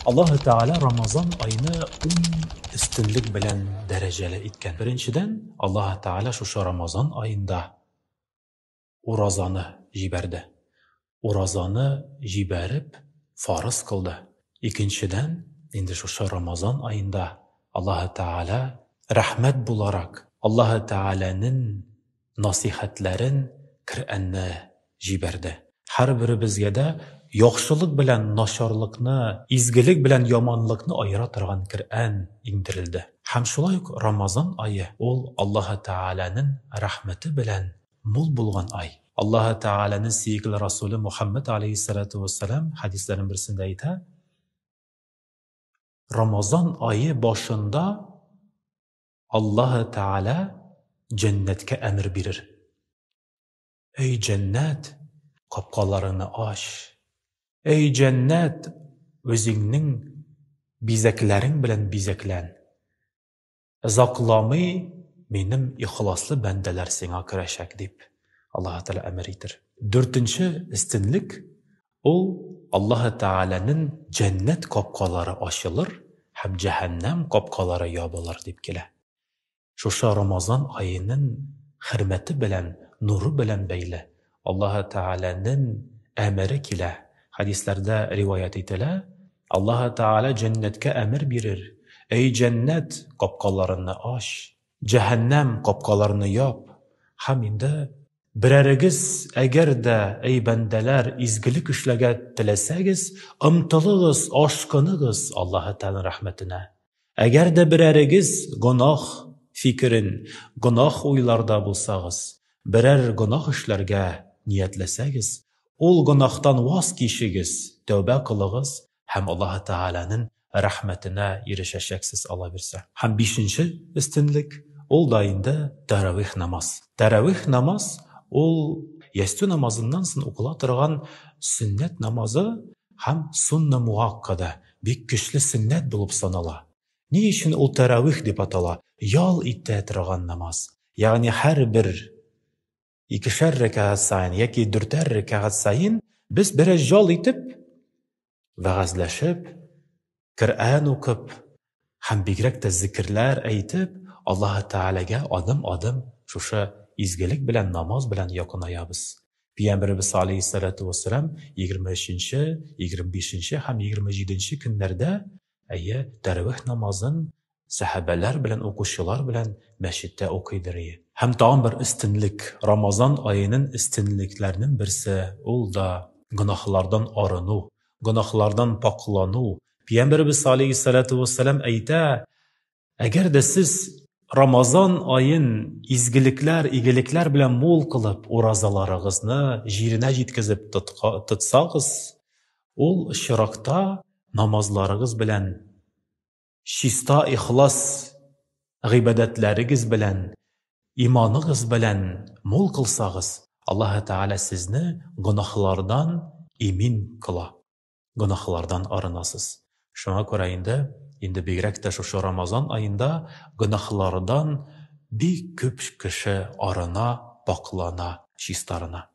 Аллаһу Тәгалә Рамазан айны ун өстенлек белән дәрәҗәле иткән. Беренчедән, Аллаһу Тәгалә шушы Рамазан айында уразаны җибәрде. Уразаны җибәреп, фарыз кылды. Икенчедән, инде шушы Рамазан айында Аллаһу Тәгалә рәхмәт буларак, Аллаһу Тәгаләнең насыйхәтләрен Кръәнне җибәрде. Һәрберебезгә дә яхшылык белән начарлыкны, изгелек белән яманлыкны аера торган Кръән иңдерелде. Һәм шулай ук Рамазан ае, ул Аллаһы Тәгаләнең рәхмәте белән мул булган ай. Аллаһы Тәгаләнең сөекле Расуле Мухәммәд галәйһиссәлатү уәссәлам хәдисләренең берсендә әйтә, Рамазан ае башында Аллаһы Тәгалә җәннәткә әмер бирер, Әй җәннәт, капкаларыңны ач! Әй җәннәт, үзеңнең бизәкләрең белән бизәклән! Озакламый минем ихласлы бәндәләр сиңа керәчәк, дип, Аллаһы Тәгалә әмер итер. Дүртенче өстенлек, Ул, Аллаһы Тәгаләнең җәннәт капкалары ачылыр һәм җәһәннәм капкалары ябылыр дип килә. Шушы Рамазан аеның хөрмәте белән, нуры белән бәйле Аллаһы Тәгаләнең әмере килә, хәдисләрдә риваять ителә, Аллаһы Тәгалә җәннәткә әмер бирер, Әй җәннәт, капкаларыңны ач! Җәһәннәм капкаларны яп, һәм инде берәрегез, әгәр дә, әй бәндәләр, изгелек эшләргә теләсәгез, омтылыгыз, ашкыныгыз Аллаһы Тәгаләнең рәхмәтенә. Әгәр дә берәрегез гөнаһ фикерен, гөнаһ уйларда булсагыз, берәр гөнаһ эшләргә ниятләсәгез, ул гөнаһтан ваз кичегез, тәүбә кылыгыз һәм Аллаһы Тәгаләнең рәхмәтенә ирешәчәксез алабирсә. Һәм бишенче өстенлек, ул да инде тәравих намаз. Тәравих намаз, ул ястү намазыннан соң укыла торган сөннәт намазы һәм сунна муаккада, бик көчле сөннәт булып санала. Ни өчен ул тәравих дип атала? Ял итә торган намаз. Ягъни һәрбер икешәр рәкәгать саен яки дүртәр рәкәгать саен без бераз ял итеп, вәгазьләшеп, Коръән укып һәм бигрәк тә зикерләр әйтеп, Аллаһ Тәгаләгә адым-адым шушы изгелек белән, намаз белән якынаябыз. Пәйгамбәребез алейһиссалату вәссәлам 23 нче, 25 нче һәм 27 нче көннәрдә, әйе, тәравих намазын Сәхәбәләр белән укучылар белән мәчеттә укыйдыр ие. Һәм тагын бер өстенлек, Рамазан аенын өстенлекләрнен берсе, ул да, гөнаһлардан арыну, гөнаһлардан пакълану. Пиямбәребез салейһиссалату уәссәлам әйтә, Әгәр дә сез Рамазан аен изгелекләр, игелекләр белән мул кылып, уразаларыгызны җиренә җиткезеп тотсагыз, ул очракта намазларыгыз белән Чиста ихлас гыйбадәтләрегез белән, иманыгыз белән мул кылсагыз, Аллаһы Тәгалә сезне гөнаһлардан имин кыла, гөнаһлардан арынасыз. Шуңа күрә инде, инде бигрәк тә шушы Рамазан аенда гөнаһлардан бик күп кеше арына, пакълана, чистарына.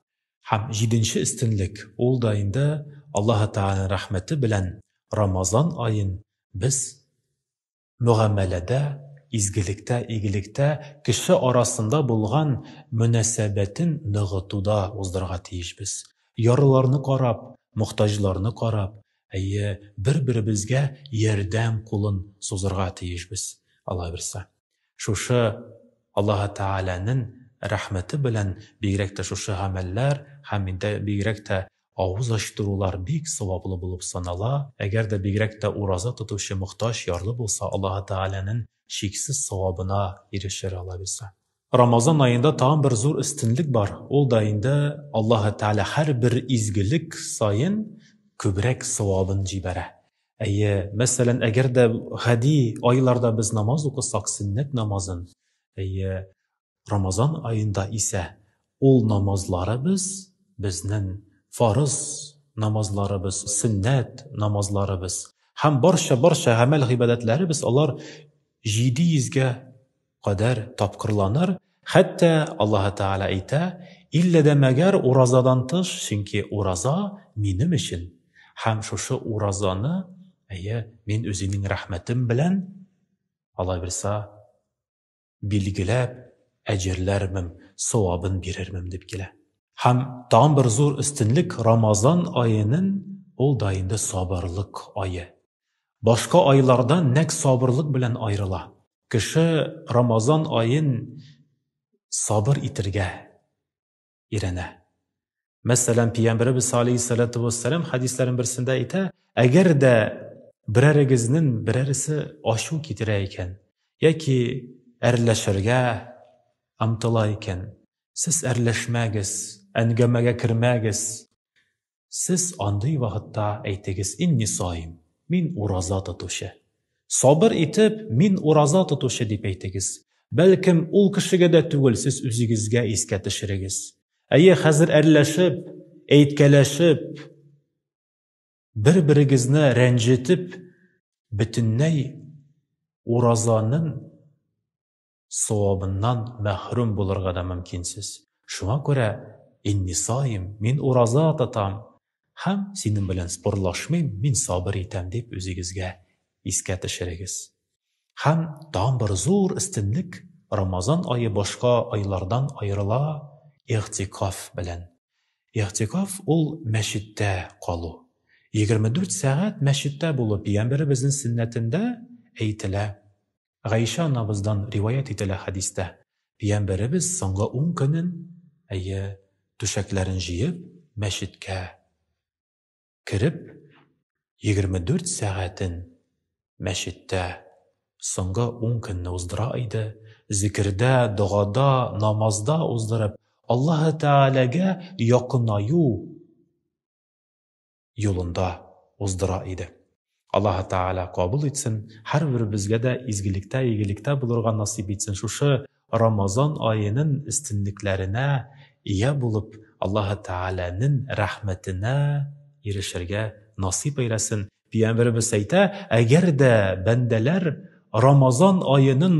Һәм җиденче өстенлек, ул да инде Аллаһы Тәгаләнең рәхмәте белән Рамазан аен Без мөгамәләдә, изгелектә, игелектә кеше арасында булган мөнәсәбәтен ныгытуда уздырырга тиешбез. Ярлыларны карап, мохтаҗларны карап, әйе, бер-беребезгә ярдәм кулын сузырга тиешбез, Алла бирса. Шушы Аллаһы Тәгаләнең рәхмәте белән бигрәк тә шушы гамәлләр һәм инде бигрәк тә Авыз ачтырулар бик саваплы булып санала, әгәр дә бигрәк тә ураза тотучы мохтаҗ ярлы булса, Аллаһы Тәгаләнен чиксез савабына ирешер ала бирсә. Рамазан аенда тагын бер зур өстенлек бар, ул да инде Аллаһы Тәгалә һәрбер изгелек саен күбрәк савабын җибәрә. Әйе, мәсәлән, әгәр дә гади айларда без намаз укысак, сөннәт намазын, әйе, Рамазан аенда исә ул намазларыбыз, безнең фарыз намазларыбыз, сөннәт намазларыбыз һәм барча-барча гамәл-гыйбадәтләребез алар җиде йөзгә кадәр тапкырланыр, хәтта Аллаһы Тәгалә әйтә, Иллә дә мәгәр уразадан тыш, чөнки ураза минем өчен, һәм шушы уразаны, әйе, мин үземнең рәхмәтем белән, Аллаһы бирса, билгеләп, әҗерләрмен, савабын бирермен дип килә. Һәм тагын бер зур өстенлек Рамазан аенын ул да инде сабырлык ае. Башка айлардан нәк сабырлык белән аерыла. Кеше Рамазан аен сабыр итергә, өйрәнә. Мәсәлән, Пәйгамбәребез алейһиссалату вассалам хәдисләрен берсендә әйтә, әгәр дә берәрегезнең берәресе ачу китерә икән, яки әрләшергә омтыла икән, сез әрләшмәгез, әңгәмәгә кермәгез. Сез андый вакытта әйтегез, Инни саим, мин ураза тотучы. Сабыр итеп, мин ураза тотучы дип әйтегез. Бәлкем, ул кешегә дә түгел, сез үзегезгә искә төшерегез. Әйе, хәзер әрләшеп, әйткәләшеп, бер-берегезне рәнҗетеп, бөтенләй уразаның савабыннан мәхрүм булырга да мөмкинсез. Шуңа күрә, Инни саим, мин ураза тотам һәм синең белән спорлашмыйм, мин сабыр итәм, дип үзегезгә искә төшерегез. Һәм тагын бер зур өстенлек, Рамазан ае башка айлардан аерыла игътикаф белән. Игътикаф ул мәчеттә калу. Егерме дүрт сәгать мәчеттә булу пигамбәребезнең сөннәтендә әйтелә. Гайшә анабыздан риваять ителә хәдистә, пиямбәребез соңгы ун көнен, әйе, түшәкләрен җыеп, мәчеткә кереп, егерме дүрт сәгатен мәчеттә соңгы ун көнне уздыра иде, зикердә, догада, намазда уздырып, Аллаһы Тәгаләгә якынаю юлында уздыра иде. Аллаһы Тәгалә кабул итсен, һәрберебезгә дә изгелектә, игелектә булырга насыйп итсен, шушы Рамазан аенын эстенлекләренә ия булып, Аллаһы Тәгаләнен рәхмәтенә ирешергә насыйп әйләсен. Пиямберебез әйтә, әгәр дә бәндәләр Рамазан аенын